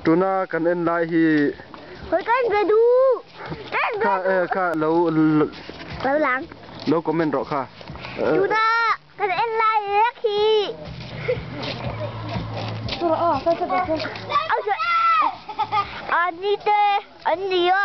Tuna kan en lai hi. Hawi kan be du. Kan be du. Kha kha lo lo lang. Lo comment rawh kha. Tuna kan en lai hi rek hi. Auh. Ani te an ni a.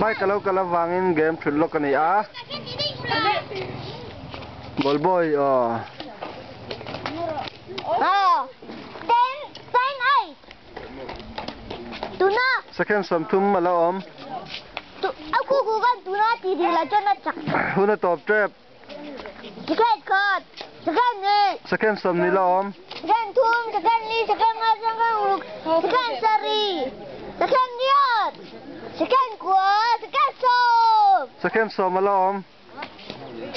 Bike a lo kalh avangin game ṭhut lawk a ni a, ball boy aw. Tuna. Second som thum ala om. Tu aku ku kan tuna ti ding la chon na chak. Huna top trap. Second card. Second ni. Second som ni la om. Second thum, second ni, second ngai, second uluk, second sari, second niat, second kua, second som. Second som ala om.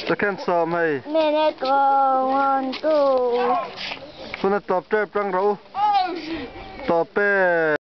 Second sawm hei. Minute go one two. Tuna tawp tep tang rau tawp pet.